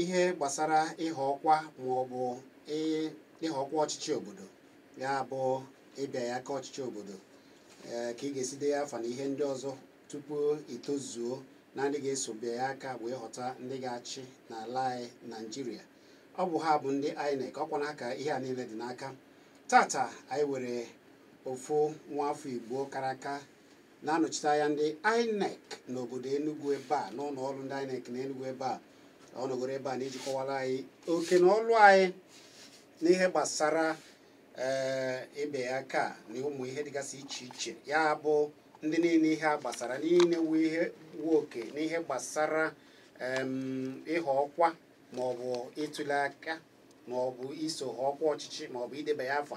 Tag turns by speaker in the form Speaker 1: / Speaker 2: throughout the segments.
Speaker 1: ihe gbasara ịhọ ọkwa ma ọ bụ ịhọ ọkwa ọchịchị obodo ya bụ ịbịanye aka ọchịchị obodo eh, ka ị ga-esi denye afa na ihe ndị ọzọ tupu i tozuo na ndị ga-eso bịanye aka wee họta ndị ga-achị n'ala anyị Nigeria ọ bụ ha bụ ndị INEC ọkwa na ha ka ihe a niile dị n'aka tata anyị nwere ofu nwa afọ igbo kara aka na-anọchite anya ndị INEC n'obodo Enugu ebe a n'ụlọ ọrụ ndị INEC na Enugu ebe a ọ nọgoro ebe a n'iji kọwaara anyị oke na ọlụ anyị n'ihe gbasara ee ịbịanye aka na ụmụ ihe dịgasị iche iche ya bụ ndị niile ihe a gbasara niile nwe oke n'ihe gbasara em, ịhọ ọkwa maọbụ ịtụle aka maọbụ iso họọ ọkwa ọchịchị maọbụ idebanye afa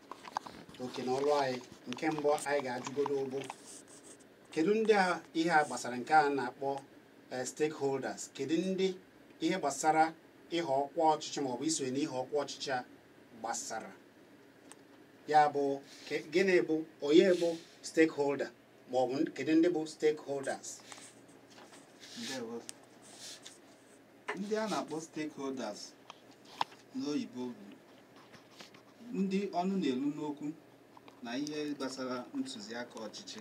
Speaker 1: oke na ọrụ anyị nke mbụ anyị ga-ajụgodo bụ kedu ndị a ihe a gbasara nke a na-akpọ eh, stakeholders kedu ndị ihe gbasara ịhọ ọkwa ọchịchị maọbụ isonye n'ihe ọkwa ọchịchị a gbasara ya bụ ke- gịnị bụ onye bụ stakeholder ma ọ bụ kedu ndị bụ stakeholders
Speaker 2: ndewo ndị a na-akpọ stakeholders n'oyibo bụ ndị ọnụ na-elu n'okwu na ihe gbasara ntụziaka ọchịchị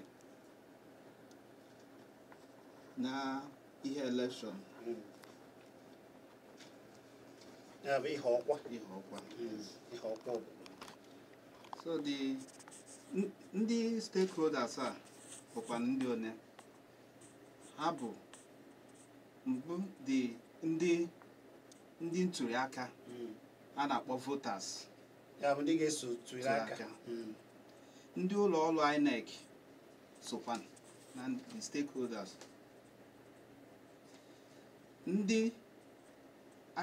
Speaker 2: na ihe election
Speaker 1: ya bụ ihe ọkwa ihe ọkwa ihe
Speaker 2: ọkwa obodo so the n- ndị stakeholders a bụkwa ndị one ha bụ mbụ the ndị ndị ntuli aka Mm. a na-akpọ voters ya bụ ndị
Speaker 1: ga-eso tụrụ Tụrụ aka aka. Mm.
Speaker 2: ndị ụlọ ọrụ INEC sokwa na the stakeholders ndị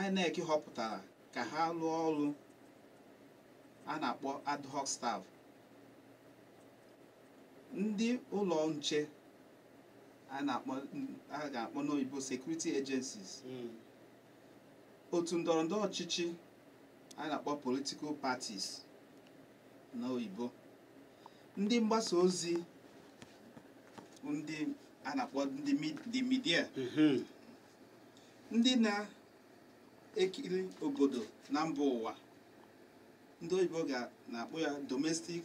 Speaker 2: INEC họpụtara ka ha rụọ ọrụ a na-akpọ ad hoc staff ndị ụlọ nche a na-akpọ a ga-akpọ n'oyibo security agencies Mm. otu ndọrọ ndọrọ ọchịchị a na-akpọ political parties n'oyibo ndị mgbasa ozi bụ ndị a na-akpọ ndị mi- the media Mhm. ndị na-ekiri obodo na mba ụwa ndị oyibo ga na-akpọ ya domestic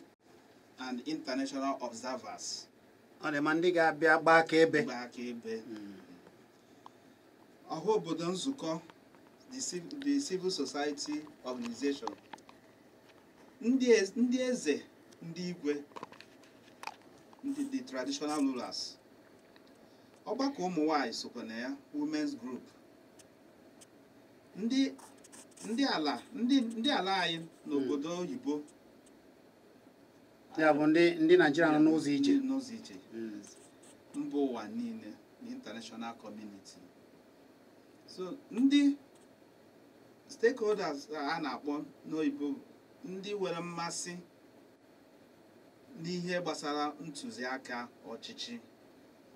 Speaker 2: and international observers ọ dị ma
Speaker 1: ndị ga-abịa gbaa akaebe gbaa akaebe hmm.
Speaker 2: ọha obodo nzukọ the civil society organization ndị eze ndị igwe ndị the traditional rulers ọgbakọ ụmụ nwanyị sokwa na ya women's group ndị ndị ala ndị ndị ala anyị n'obodo oyibo
Speaker 1: ya bụ ndị ndị naijiria nọ n'ụzọ ije ndị n'ụzọ ije Mm. mba
Speaker 2: ụwa niile na international community so ndị stakeholders a na-akpọ n'oyibo bụ ndị nwere mmasị n'ihe gbasara ntụziaka ọchịchị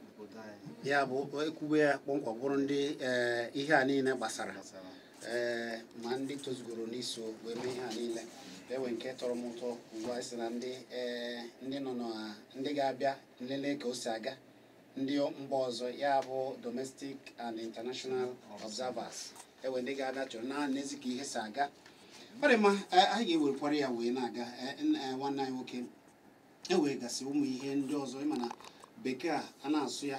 Speaker 2: obodo anyị ya bụ ekwube
Speaker 1: ya kpọmkwem bụrụ ndị ee, ihe a niile gbasara gbasara ee ma ndị tozugoro n'iso wee mee ihe a niile enwe nke tọrọ m ụtọ ugbu a sị na ndị ee ndị nọ na ndị ga-abịa nlele ka o si aga ndị mba ọzọ ya bụ domestic and international observers ewe ndị ga-abịa chọrọ na-enezi ka ihe si aga ọ dị mma eh, anyị ga-ewerekwara ya wee na-aga eh, n- eh, nwanne anyị nwoke ewee gasị ụmụ ihe ndị ọzọ ịma na bekee a a na-asụ ya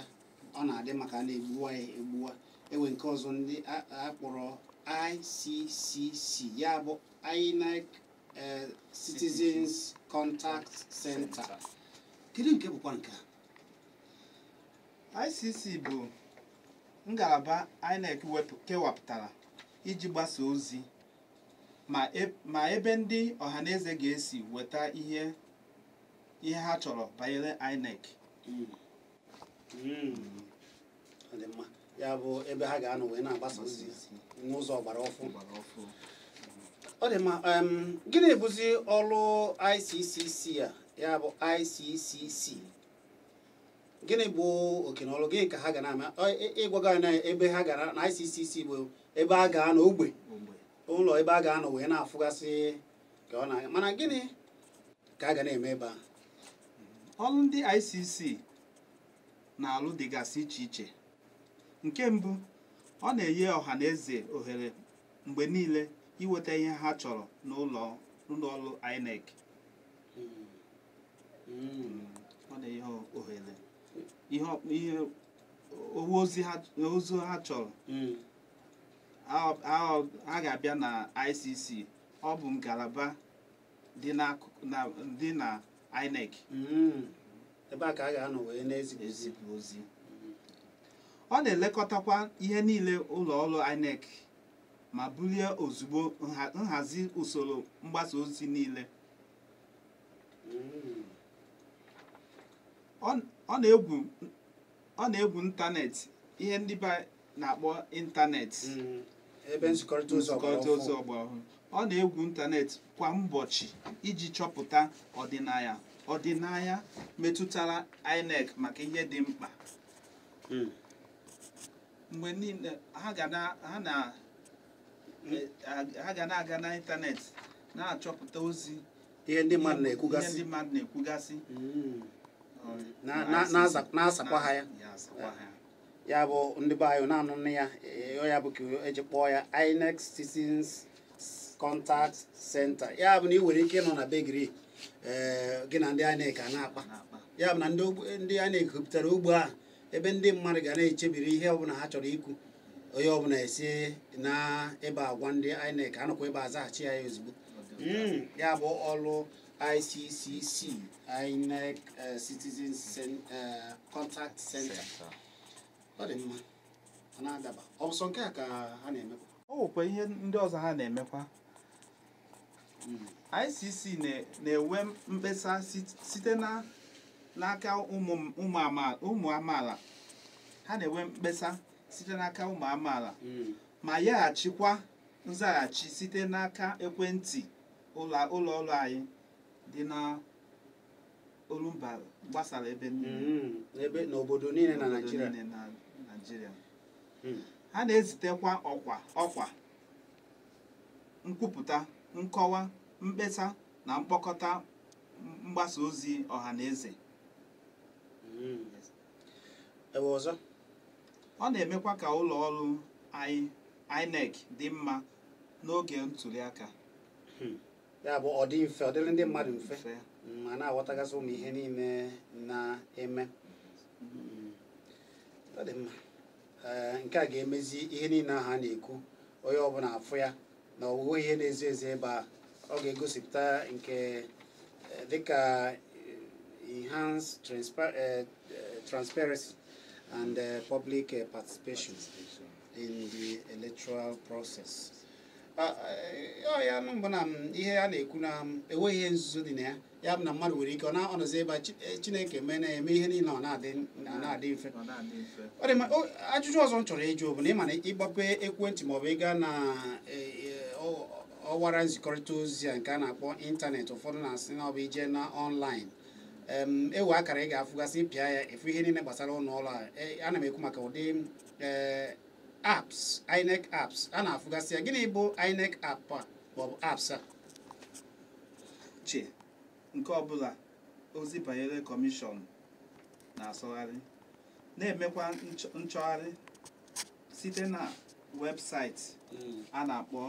Speaker 1: ọ na-adị mma ka a na-egbuwa ya egbuwa ewe nke ọzọ ndị a- a kpọrọ ICCC ya bụ INEC eh, Citizens Contact Center kedu nke bụkwa nke a ICC bụ
Speaker 2: ngalaba INEC wepụ kewapụtara iji gbasa ozi ma e- ma ebe ndị ọhaneze ga-esi weta ihe ihe ha chọrọ banyere INEC Mm.
Speaker 1: ya bụ ebe ha ga-anọ wee na-agbasa ozi n'ụzọ ọgbara ọfụụ ọ dị mma gịnị bụzi ọrụ ICCC a ya bụ ICCC gịnị bụ oke na ọrụ gịnị ka ha ga na-eme ịgwaga na ebe ha gara na ICCC bụ ebe a ga-anọ ogbe ụlọ ebe a ga-anọ wee na-afụgasị ka ọ na-aga mana gịnị ka a ga na-eme ebe a ọrụ
Speaker 2: ndị ICC na-alụ dịgasị iche iche nke mbụ ọ na-enye ọha na eze ohere mgbe niile iweta ihe ha chọrọ n'ụlọ ọrụ INEC ọ na-enye ha ohere ihe ozi ha chọrọ ha ga-abịa na ICC ọ bụ ngalaba dị n'akụkụ na dị na INEC Mm.
Speaker 1: ebe a ka a ga-anọ wee na-ezipụ ozi ezipụ ozi
Speaker 2: ọ na-elekọtakwa ihe niile ụlọ ọrụ INEC ma bulie ozugbo nha- nhazi usoro mgbasa ozi niile Mm. ọ ọ na-egwu ọ na-egwu ịntanetị ihe ndị be na-akpọ ịntanetị mm,
Speaker 1: ebe nzikọrịta ozi ọgba ọhụrụ ọ na-egwu
Speaker 2: ịntanetị kwa ụbọchị iji chọpụta ọdịnaya ọdịnaya metụtara INEC maka ihe dị mkpa mm. mgbe niile ha ga na-aga n'ịntanetị na-achọpụta ozi ihe ndị
Speaker 1: mmadụ na-ekwugasị ndị mmadụ
Speaker 2: na-ekwugasị
Speaker 1: hmm. na-asakwa ha ya ya bụ ndị be anyị na-anụnụ ya e, ya bụ ka eji kpọọ ya INEC Citizens Contact Center ya bụ na ị nwere ike nọ na be gị e, gị na ndị INEC a na-akpa ya bụ na ndị INEC wepụtara ugbo a ebe ndị mmadụ ga na-echebiri ihe ọbụla ha chọrọ ikwu onye ọbụla esi na ebe a gwa ndị INEC anọkwa ebe a zaghachi ya ozugbo hmm, ya bụ ọrụ ICCC INEC eh, Citizen eh, Contact Center ọ dị mma ọ na-adaba ọ bụ sọ nke a ka ha na-emekwa o nwekwa ihe
Speaker 2: ndị ọzọ ha na-emekwa ICC na-enwe mkpesa site n'aka ụmụ amaala ha na-enwe mkpesa site n'aka ụmụ amaala hmm. ma yaghachikwa nzaghachi site n'aka ekwentị ụlọ ọrụ anyị dị na olumba gbasara ebe hmm.
Speaker 1: n'obodo niile na Naịjirịa
Speaker 2: hmm. ha na-ezitekwa ọkwa ọkwa nkwupụta nkọwa mkpesa na mkpọkọta mgbasa ozi ọha na eze hmm,
Speaker 1: ihe ọzọ ọ
Speaker 2: na-emekwa ka ụlọ ọrụ INEC dị mma n'oge ntuli aka
Speaker 1: hmm. ya bụ ọ dị mfe ọ dịrị ndị mmadụ mfe ma na-aghọtagasị ụmụ ihe niile na-eme hmm. ọ dị mma ee nke a ga-emezi ihe niile ahụ a na-ekwu onye ọbụla afụ ya na o nweghị ihe na-ezo ezo ebe a ọ ga-egosipụta nke eh, dịka eh, enhanced transpa- eh, eh, transparency and eh, public eh, participation in the electoral process. Ah, eh, ọ ya nụ bụ na mm, ihe a na-ekwu na mm, enweghị ihe nzuzo dị na ya ya bụ na mmadụ nwere ike ọ na-anọzi ebe eh, chineke mee na-eme ihe niile ọ na-adị mfe ajụjụ ọzọ m chọrọ ịjụ bụ na ị ma na ị gbape ekwentị maọbụ ị gaa na eh, eh, ọwara nzikọrịta ozi a nke a na-akpọ ịntanetị ụfọdụ na-asị na ọ bụ ije na ọnlaịn e nwee akara ị ga-afụgasị pịa ya ị fụ ihe niile gbasara ụlọ ọrụ a ana m ekwu maka ụdị apps INEC apps a na-afụgasị ya gịnị bụ INEC app a maọbụ apps a iche
Speaker 2: nke ọbụla ozi banyere kọmishọn na-asọgharị na-emekwa nchọgharị site na webụsaịtị hmm. a na-akpọ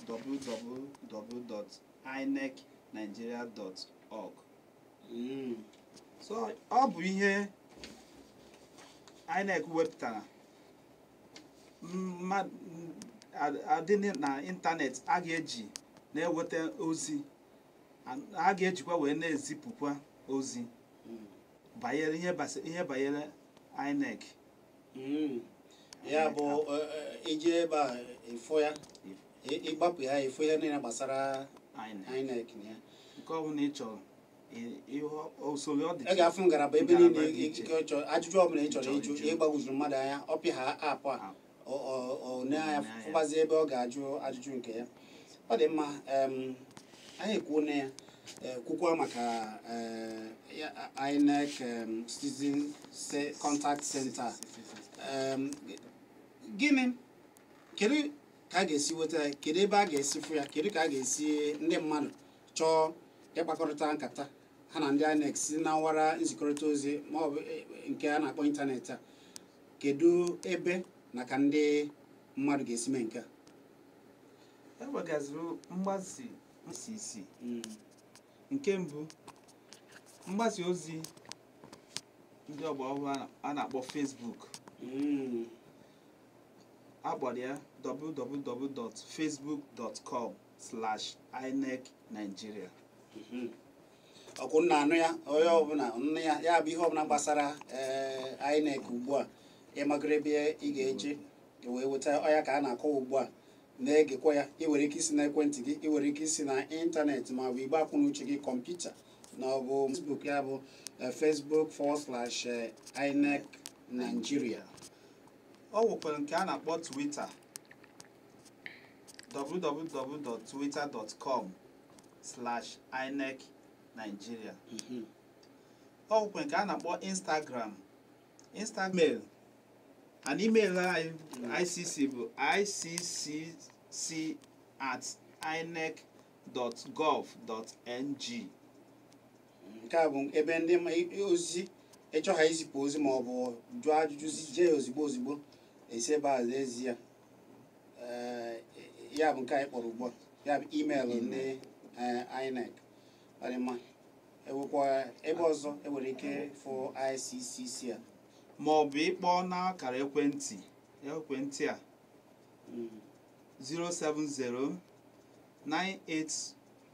Speaker 2: www.inecnigeria.org hmm. so ọ bụ ihe INEC wepụtara adị na ịntanetị a ga-eji na-eweta ozi a ga-ejikwa wee na-ezipụkwa ozi banyere ihe banyere INEC
Speaker 1: hmm. ya bụ i je e, e, ebe a ị fụ ya ị gbapụ ya ị fụ ihe niile gbasara INEC ya nke ọ bụla ị
Speaker 2: chọrọ ị ga-afụ ngalaba ebe
Speaker 1: niile ị chọ ajụjụ ọbụla ị chọrọ ịjụ ihe gbagwojuru mmadụ anya ọ pịaha app a o nee anya fụbazi ebe ọ ga-ajụ ajụjụ nke ya ọ dị mma anyị ekwuona ya Eh, kwukwa maka eh, INEC citizen contact center gịnị kedu ka a ga-esi weta ya kedu ebe a ga-esi fụ ya kedu ka a ga-esi ndị mmadụ chọọ ịkpakọrịta nkata ha na ndị INEC si na ọwara nzikọrịta ozi ma ọ bụ e, e, nke a na-akpọ ịntanetị a kedu ebe na ka ndị mmadụ ga-esi mee nke a e
Speaker 2: nwegasịrị mgbasa ICCC hmm. nke mbụ mgbasa ozi ndị ọgbọ ọhụrụ a na-akpọ Facebook hmm. akara ya www.facebook.com slash inec
Speaker 1: nigeria ọ kwa unu na-anụ ya onye ọbụla nee ya ya bụ ihe ọbụla gbasara ee inec ugbu a ị magoro ebe ị ga-eje i wee weta ọ ya ka a na-akọwa ugbu a na-egekwa ya ị nwere ike isi na ekwentị gị ị nwere ike isi na ịntanetị ma ọ bụ igbe akọ na uche gị kọmputa na ọ bụ facebook ya bụ eh, facebook forward slash eh, inec nigeria
Speaker 2: o nwekwara nke a na-akpọ Twitter www.twitter.com slash inec nigeria mhm. o nwekwara nke a na-akpọ instagram instagram and email anyị icc bụ iccc at inec dot gov dot ng
Speaker 1: nke a bụ ebe ndị ozi ịchọ ha izipụ ozi ma ọ bụ jụọ ajụjụ i zie ya ozigbo ozigbo esi ebe a ezi ya ya bụ nke anyị kpọrọ ugbu a ya bụ imeelụ ndị INEC ọ dị mma enwekwa ebe ọzọ enwere ike fụ ICCC a ma ọ
Speaker 2: bụ ịkpọ n'akara ekwentị ekwentị a 070 hmm. 98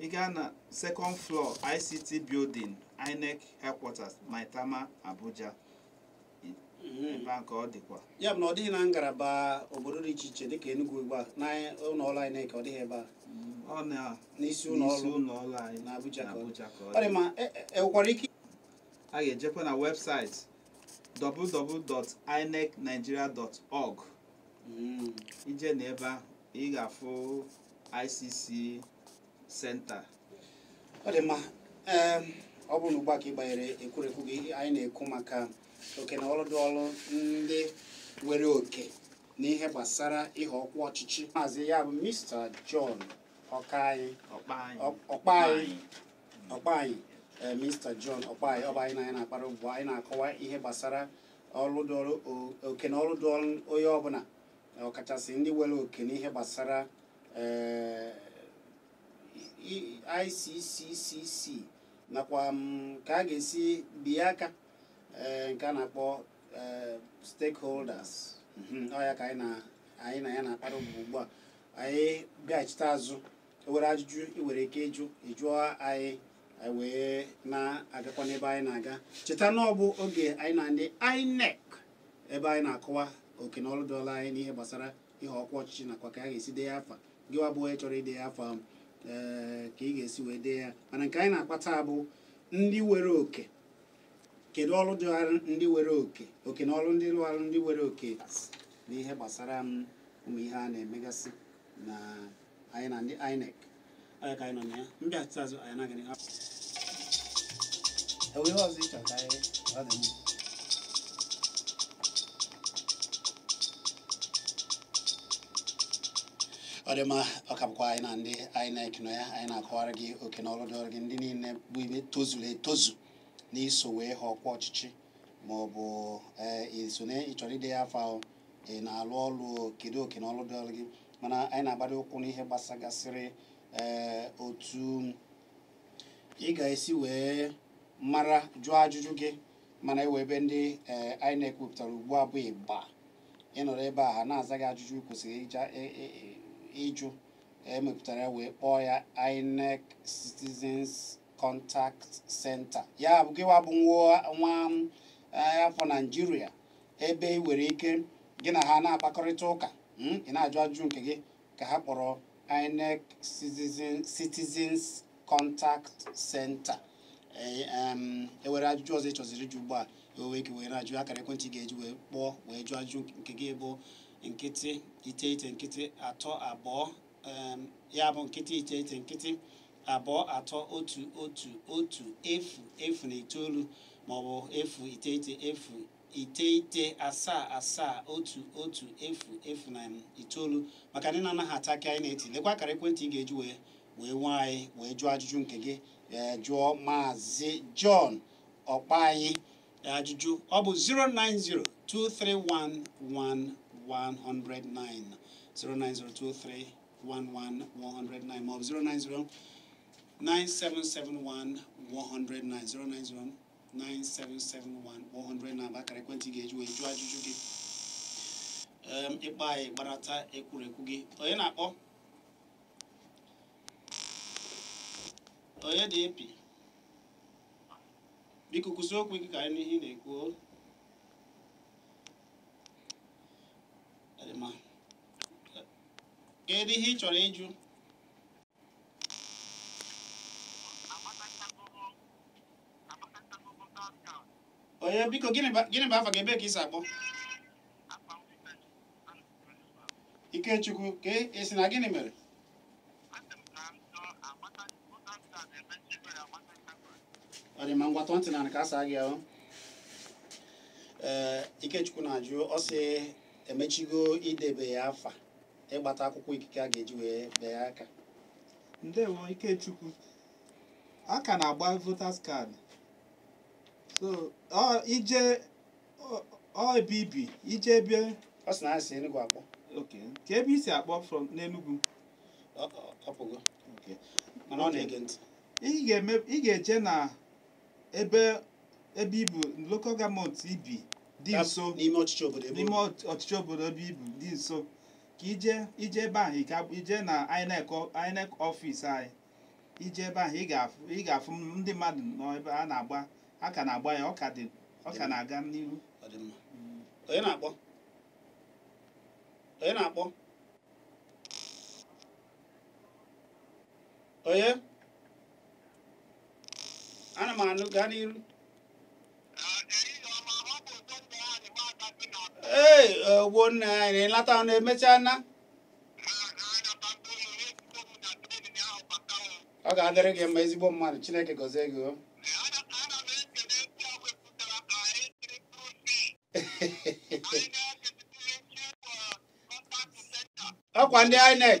Speaker 2: ị gaa na second floor ICT building INEC headquarters Maitama Abuja mhm. ebe a ka ọ dịkwa ya na ọ dịghị na
Speaker 1: ngalaba obodo dị iche iche dịka Enugu ugbu a na ụlọ ọrụ INEC ọ dịghị ebe a
Speaker 2: mm, n'isi
Speaker 1: ụlọ ọrụ na
Speaker 2: Abuja
Speaker 1: ka ọ dị
Speaker 2: ma
Speaker 1: enwekwara e, e ike a
Speaker 2: ga-ejekwa na webụsaịtị www.inecnigeria.org mm. i jee na ebe ahụ ị ga-afụ ICC
Speaker 1: senta ọ dị mma ee ọ bụrụ na ugbu a ka ị gbanyere ekwurekwu gị anyị na-ekwu maka oke na ọlụ dịịrị ndị nwere oke n'ihe gbasara ịhọ ọkwa ọchịchị maazị ya bụ Mr. John Ọkaanyị Ọkpanyị Ọ- Ọkpanyị Ọkpanyị ee, Mr. John Ọkpanyị ọ bụ anyị na ya na-akpara ugbu a, anyị na-akọwa ihe gbasara ọlụ dịịrị o- oke na ọlụ dịịrị onye ọbụla ọkachasị ndị nwere oke n'ihe gbasara eh, ICCC nakwa mm, ka a ga-esi bie aka eh, nke a na-akpọ eh, stakeholders mhm, ọ ya ka anyị na ya na-akpara ugbu a anyị bịachite azụ ewere ajụjụ ị nwere ike ịjụ ịjụọ anyị anyị wee na-agakwa n'ebe anyị na-aga cheta na ọ bụ oge anyị na ndị INEC ebe anyị na-akọwa oke na ọrụ dịịrị anyị n'ihe gbasara ihe ọkwa ọchịchị nakwa ka a ga-esi deye afa gị wa bụ onye chọrọ ideye afa ahụ ee ka ị ga-esi wee dee ya mana nke anyị na-akpa taa bụ ndị nwere oke kedu ọrụ dịịrị ndị nwere oke oke na ọrụ dịịrị ndị nwere oke n'ihe gbasara m ụmụ ihe a na-emegasị na anyị na ndị INEC anyị ka anyị nọ na ya m bịachigha azụ anyị na-aga n'ihu enwe ihe ọzọ ịchọ ka anyị ọ dị mma ọ dị mma ọ ka bụkwa anyị na ndị INEC nọ ya anyị na-akọwara gị oke na ọrụ dịịrị gị ndị niile bụ ibe tozuru etozu n'iso wee họọ ọkwa ọchịchị ma ọ bụ ee iso na ịchọrọ idenye afa ahụ ị na-alụ ọrụ kedu oke na ọrụ dịịrị gị mana anyị na-agbado ụkwụ n'ihe gbasagasịrị ee eh, otu ị ga-esi wee mara jụọ ajụjụ gị mana enwe ebe ndị eh, INEC wepụtara ugbu a bụ ịba ịnọrọ ebe a ha na-aza gị ajụjụ kwesịrị e, e, e, ịjụ emepụtara wee kpọọ ya INEC Citizens Contact Center ya bụ gịwa bụ nwa afọ Naijiria ebe ị nwere ike gị na ha na-akpakọrịta ụka hmm, ị na-ajụ ajụjụ nke gị ka ha kpọrọ INEC Citizens Contact Center enwere e ajụjụ ọzọ ị chọziri ịjụ ugbu a i nwere ike wee na-ajụ akara ekwentị ị ga-eji wee kpọọ wee jụọ ajụjụ nke gị bụ nkịtị iteghete nkịtị atọ abụọ ya bụ nkịtị iteghete nkịtị abụọ atọ otu otu otu efu efu na itoolu maọbụ efu iteghete efu iteghete asaa asaa otu otu efu efu na itoolu maka ndị na-anaghị aghọta ka anyị na-eti lekwa akara ekwentị ị ga-eji wee wee nwee anyị wee jụọ ajụjụ nke gị ee jụọ maazị John Ọkpanị ajụjụ ọ bụ 09023111109 09023111109 maọbụ 090 9771 109 090 9771 109 bụ akara ekwentị ị ga-eji wee jụọ ajụjụ gị ị kpọọ anyị gbarata ekwurekwu gị onye na-akpọ onye dị ebe biko kwusie okwu ike ka anyị nụ ihe ị na-ekwu kedu ihe ị chọrọ ịjụ onye biko gịnị bụ afa gị ebee ka i si akpọ Ikechukwu ka ị sị na gịnị mere ọ dị mma ngwa tọọ ntị n'ana ka a saa gị o ee Ikechukwu na-ajụ ọ sị emechigo idebanye afa ịgbata akwụkwọ ikike a ga-eji wee bee aka
Speaker 2: ndewo ikechukwu a ka na-agba voters card so i jee ọ ebe i bi i jee ebe ọ sị na ha si
Speaker 1: Enugu akpọ okay ka
Speaker 2: ebe i si akpọ from
Speaker 1: n'Enugu ọ pụgo mana ọ na-ege ntị ị
Speaker 2: ga-eje na ebe ebe i bu local government i bi dị nso n'ime ọchịchị obodo ebe
Speaker 1: n'ime obi. ọchịchị
Speaker 2: obodo ebe i bu dị nso ka i je i jee ebe ahụ ị ga- i jee na INEC ọ- INEC office anyị i jee ebe ahụ ị ga-afụ ị ga-afụ ndị mmadụ nọ ebe a na-agba a ka na-agba ya ọ ka dị ọ ka na-aga n'iru Ọ dị
Speaker 1: mma. onye na-akpọ onye na-akpọ onye ana m anụ gaa n'iru ee Ogbonnaya na-elata ọ na-emecha na ọ ga-adịrị gị mma ezigbo mmadụ chineke gọzie gị o ọkwa ndị INEC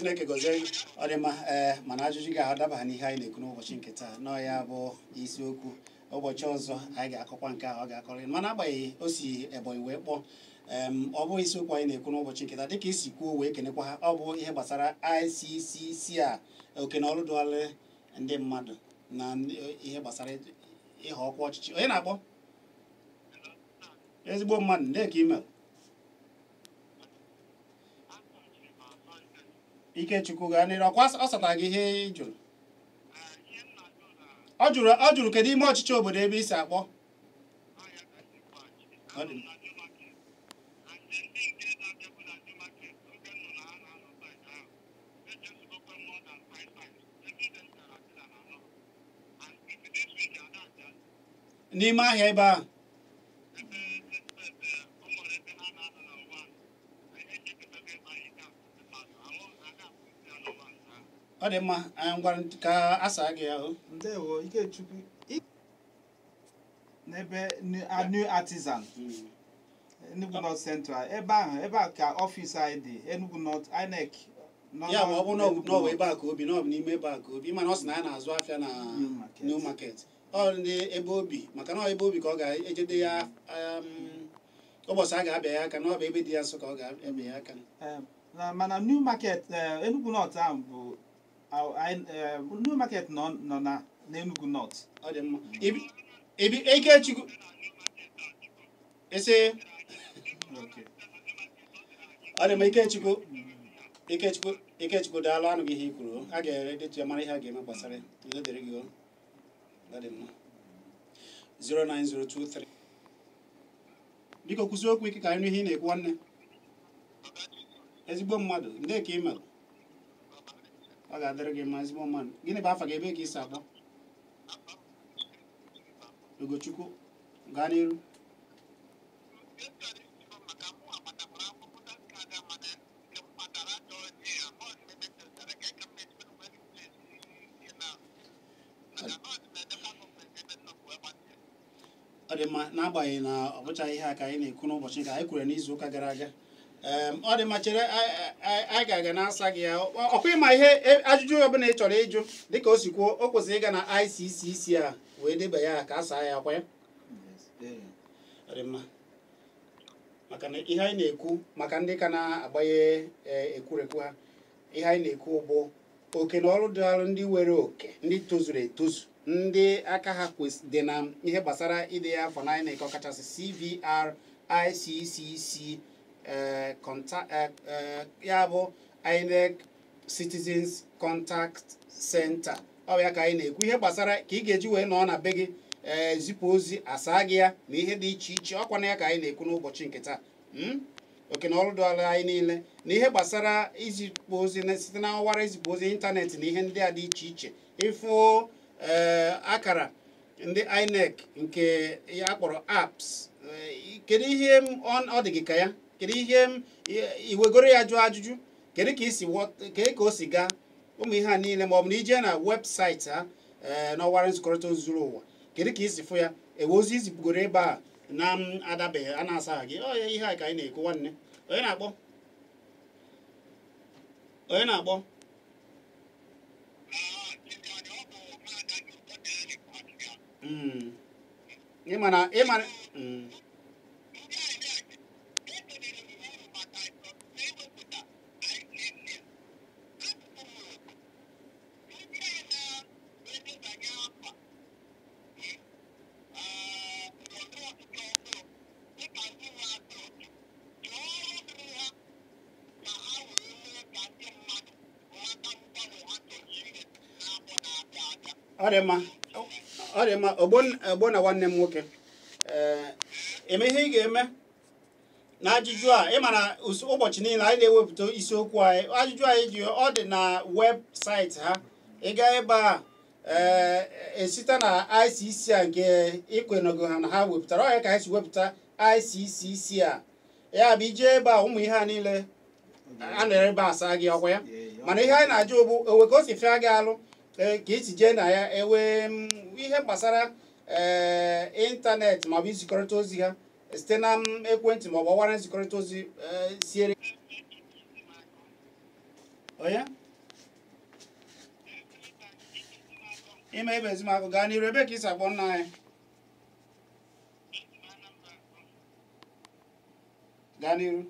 Speaker 1: chineke gọzie ọ dị mma ee eh, mana ajụjụ gị adabaghị n'ihe anyị na-ekwu n'ụbọchị nke taa na ọ ya bụ isiokwu ụbọchị ọzọ anyị ga-akọkwa nke ahụ ọ ga-akọrọ mana agbanyeghị o si ebonyi wee kpọọ ọ bụ isiokwu anyị na-ekwu n'ụbọchị nke taa dịka i si kwuo wee kenekwa ha ọ bụ ihe gbasara ICCC a oke na ọrụ dịịrị ndị mmadụ na ihe gbasara ịhọ ọkwa ọchịchị onye na-akpọ ezigbo mmadụ ndee ka i mee Ikechukwu gaa n'iru ọkwa ọ satara gị ihe ị jụrụ ọ jụrụ ọ jụrụ kedu ime ọchịchị obodo ebe i si akpọ n'ime ahịa ebe ahụ ọ dị mma anyị ngwanụ ka a saa gị ahụ ndewo ikechukwu
Speaker 2: I- n'ebe New- a new artisan enugu north central ebe ahụ ebe a ka office anyị dị enugu north inec na ọ ya bụ ọ bụrụ na ọ
Speaker 1: bụ Enugu n'ọbụ North. ebe a ka o bi na ọ bụ n'ime ebe a ka o bi mana ọ sị na ya na-azụ afịa na New Market. new market ọ ndị ebe o bi maka na ọ ebe o bi ka ọ ga-eje dee ya um, ụbọchị a ga-abịa ya aka na ọ bụ ebe dị ya nso ka ọ ga-eme ya aka Em, na- mana
Speaker 2: New Market eh, Enugu North ahụ bụ ah, anyị, eh, New Market nọ nọ na n'Enugu North ọ dị
Speaker 1: mma Ibi- ibi Ikechukwu Eze okay. ọ dị mma Ikechukwu Ikechukwu Ikechukwu daalụ a nụgo ihe i kwuru a ga-edetu ya mara ihe a ga-eme gbasara ya. udo dịrị gị o 09023 biko kwusie okwu ike ka anyị nụ ihe ị na-ekwu nwanne ezigbo mmadụ ndee ka ị mere ọ ga-adịrị gị mma ezigbo mmadụ gịnị bụ afa gị ebe ka ị si akpọ Ugochukwu gaa n'iru ọ dị mma n'agbanyeghị na ọ bụchaghị ihe a ka anyị na-ekwu n'ụbọchị nke anyị kwuru n'izu ụka gara aga Em, ọ dị mma chere anyị- anyị anyị ga-aga na-asa gị ya Ọ- ọkwa ị ma ihe e- ajụjụ ọbụla ị chọrọ ịjụ dịka o si kwuo o kwesịrị ịga na ICCC a wee deba ya ka a saa ya ọkwa ya Yes. Ee. ọ dị mma maka na ihe anyị na-ekwu maka ndị ka na-agbanye e, ekwurekwu ha ihe anyị na-ekwu bụ oke na ọrụ dịara ndị nwere oke ndị tozuru etozu ndị aka ha dị na ihe gbasara idenye afa na INEC ọkachasị CVR ICCC e, e, ya bụ INEC Citizens Contact Center ọ ya ka anyị na-ekwu ihe gbasara ka ị ga-eji wee nọọ na be gị ee eh, zipụ ozi a saa gị ya na ihe dị iche iche ọkwa na ya ka anyị na-ekwu n'ụbọchị nke taa hmm? oke na ọrụ dịara anyị niile na ihe gbasara izipụ ozi site na ọwara izipụ ozi internet na ihe ndị a dị iche iche ịfụ eh, akara ndị INEC nke a kpọrọ apps eh, kedu ihe ọ dị gị ka ya kedu ihe i wegoro ya jụọ ajụjụ kedu ka i si kedu ka o si gaa ụmụ ihe a niile ma ọ bụ na i je na website ha ee n'ọwara nzikọrịta ozi zuru ụwa kedu ka i si fụ ya e nwee ozi i zipụgoro ebe a na-adabeghị a na-asaghị gị ọ ya ihe a ka anyị na-ekwu nwanne onye na-akpọ onye na-akpọ Mm. ịma na ịma mm. ọ dị mma ọ dị mma Ogbonna nwanne m nwoke ee ime ihe ị ga-eme na ajụjụ a ị ma na ụbọchị niile anyị na-ewepụta isiokwu anyị ajụjụ anyị ji ọ dị na webụsaịtị ha ị gaa ebe a esite eh, na ICC a nke ikwenego ha na ha wepụtara ọ ya ka anyị si wepụta ICCC a ya bụ i jee ebe a ụmụ ihe a niile a na ebe asa gị ọkwa ya mana ihe anyị na-ajụ bụ o nwee ka o si fịa gị alụ eh, ka i si jee na ya ewee mm, ihe gbasara ee eh, ịntanetị maọbụ izikọrịta ozi ha site na mm ekwentị ma ọ bụ ọwara nzikọrịta ozi eh, siere onye ime Ibezimakọ gaa n'iru ebe ka i si akpọ nna anyị gaa n'iru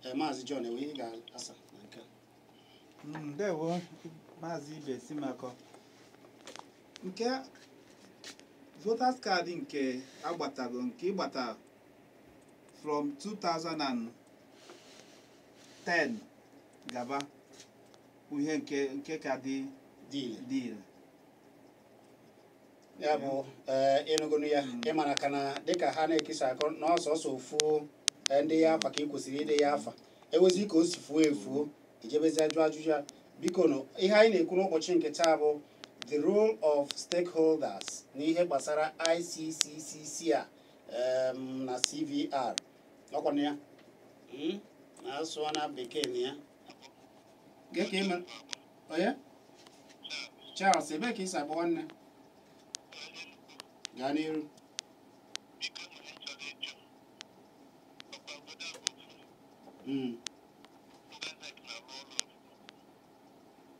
Speaker 1: Eh, maazị John enwe ihe ga-asa
Speaker 2: na nke mm, ndewo maazị Ibezimakọ nke voters card nke a gbatago nke ị gbata from 2000 10 gaba bụ ihe nke nke ka dị dị ire
Speaker 1: dị ire ya bụ ee ịnụgonu ya ịmara ka na dịka ha na-ekesa akụ na ọsọsọ o fuo ee, ndị ya afa ka ị kwesịrị ide ya afa e nwezie ka o si fuo efuo ijebezi ajụ ajụjụ ya biko nụ ihe anyị na-ekwu n'ụbọchị nke taa bụ the role of stakeholders n'ihe gbasara ICCC a em, na CVR ọkwa na ya hmm? na asụọ na bekee na ya gị ka ịma onye Charles ebe ka ị si akpọ nwanne gaa n'iru Mm.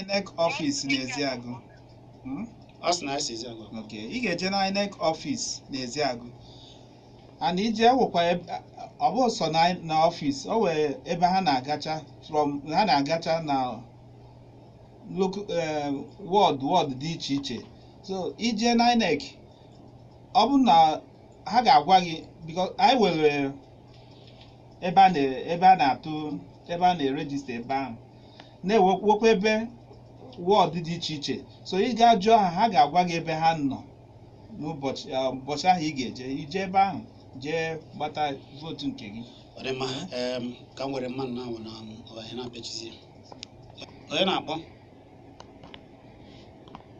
Speaker 2: INEC ọfịs n'Eziagụ Hmm? ọ sị na anyị si Eziagụ ok ị ga-eje na INEC ọfịs n'Eziagụ and ije wụkwa ebe- ọ bụ sọ na na ọfịs o nwee ebe ha na-agacha from ha na-agacha na lok wọd wọd dị iche iche so i jee na INEC ọ bụ na ha ga-agwa gị because anyị nwere ebe a na- ebe a na-atụ ebe a na-erejista ebe ahụ na-enwekwa ebe wọd dị iche iche so ị gaa jụọ ha ha ga-agwa gị ebe ha nọ n'ụbọchị eh, ụbọchị ahụ ị ga-eje i jee ebe ahụ jee gbata vootu nke gị ọ dị mma
Speaker 1: em, ka m were mmadụ ahụ na ọbanye na-apịachizi ya. onye na-akpọ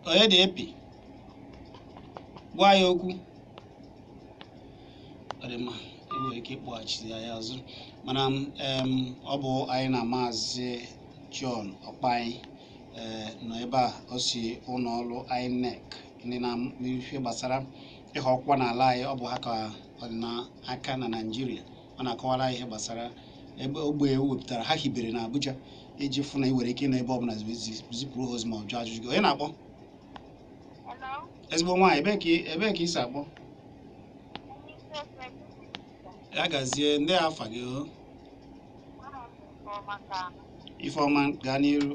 Speaker 1: onye na-epi gwa ya okwu ọ dị mma e nwere ike ịkpọghachite ya ya azụ mana m em, ọ bụ anyị na maazị John Ọkpai ee, nọ ebe a o si ụlọ ọrụ INEC ndị nọ n'ife gbasara ịhọ ọkwa n'ala anyị ọ bụ ha ka ọ dị n'aka na Naịjirịa ọ na-akọwara anyị ihe gbasara ebe ogbe e wepụtara ha hibere na Abuja iji fụ na i nwere ike ịnọ ebe ọbụla zi- zi- zipụrụ ha ozi ma ọ jụọ ajụjụ gị onye na-akpọ ezigbo nwaanyị ebee ka ị- ebee ka i si akpọ ya gazie ndee afa gị o Ifeọma gaa n'iru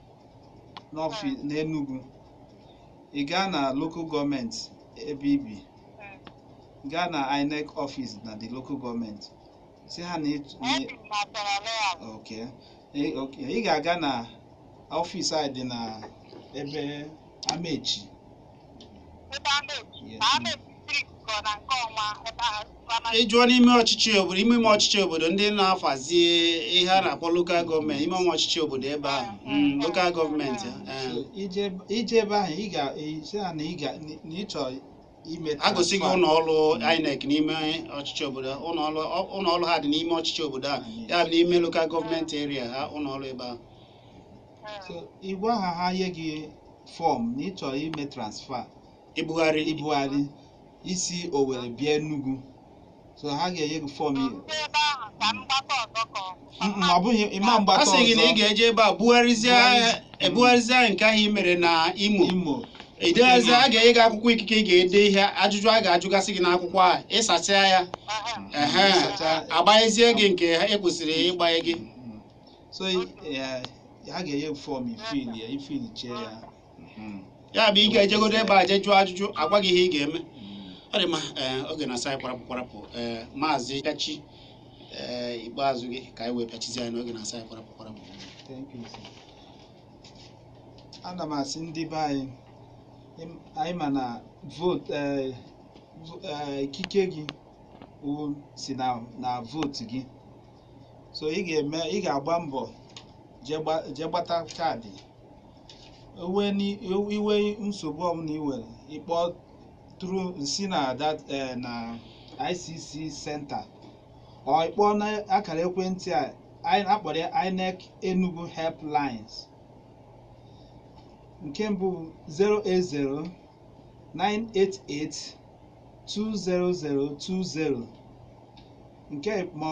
Speaker 2: n'ọfịs n'Enugu ị gaa na local gọọmenti ebe i bi gaa na INEC ọfịs na the local gọọmenti sị ha na ịtụ- na- Ebi m na Achara Layout. Okay. Ị- okay. Ị ga-aga na ọfịs anyị dị na ebe Amechi. Ebe Amechi. Yes, Ma Amechi street kọ na nke ọnwa ebe ahụ primary. Ị jụọ n'ime ọchịchị obodo ime ime ọchịchị obodo ndị na-afazi ihe a na-akpọ lokal gọọmenti ime ime ọchịchị obodo ebe ahụ mm, lokal gọọmenti eh. So, i jee i jee ebe ahụ ị ga-asị ha na ị ga na ị chọrọ ime a gosi gị transfer. ụlọ
Speaker 1: ọrụ INEC n'ime ọchịchị obodo ha. ụlọ ọrụ ọ- ụlọ ọrụ ha dị n'ime ọchịchị obodo a ya bụ n'ime lokal gọọmenti eria ha ụlọ ọrụ ebe ahụ
Speaker 2: so ị gwa ha ha nye gị fọm na ị chọrọ ime transfa ibugharị ibugharị isi Owere bịa Enugu so ha ga-enye gị fọm i- Ndị ebe ahụ ka m gbakọ ọzọ ka ọ bụ. Mm, mm, ọ bụghị ịma a mgbata sị gị na ị ọzọ ga-eje ebe
Speaker 1: a bugharịzie Bugharịzie. ebugharịzie nke ahụ i mere na Imo Imo edeghazi a ga-enye gị akwụkwọ ikike ị ga-ede ihe ajụjụ a ga-ajụgasị gị n'akwụkwọ a ị sachaa ya Aha. ehe Ịsacha- agbanyezie gị nke e kwesịrị ịgbanye gị Mm.
Speaker 2: so eh, ha ga-enye gị fọm ị fill ya ị fill
Speaker 1: chee ya Mhm. ya bụ ị ga-ejegodo ebe a jee jụọ ajụjụ a gwa gị ihe ị ga-eme ọ dị mma ee, oge na-asị anyị kwarapụ kwarapụ ee, maazị Kachi ee, ikpeazụ gị ka anyị wee pịachizi anyị n'oge na-asị anyị kwarapụ
Speaker 2: kwarapụ Thank you, sir. ana m asị ndị be anyị ịm- anyị ma na vootu eh, vo- eh, ikike gị wụ si na na vootu gị so ị ga-eme ị ga-agba mbọ jee gba- jee gbata kaadị i nwee ni- i nwee nsogbu ọbụla i nwere ị kpọtụrụ nsi na that eh, na ICC center or ị kpọọ na akara ekwentị a anyị a kpọrọ ya INEC Enugu helplines nke mbụ 080 988 20020 nke ma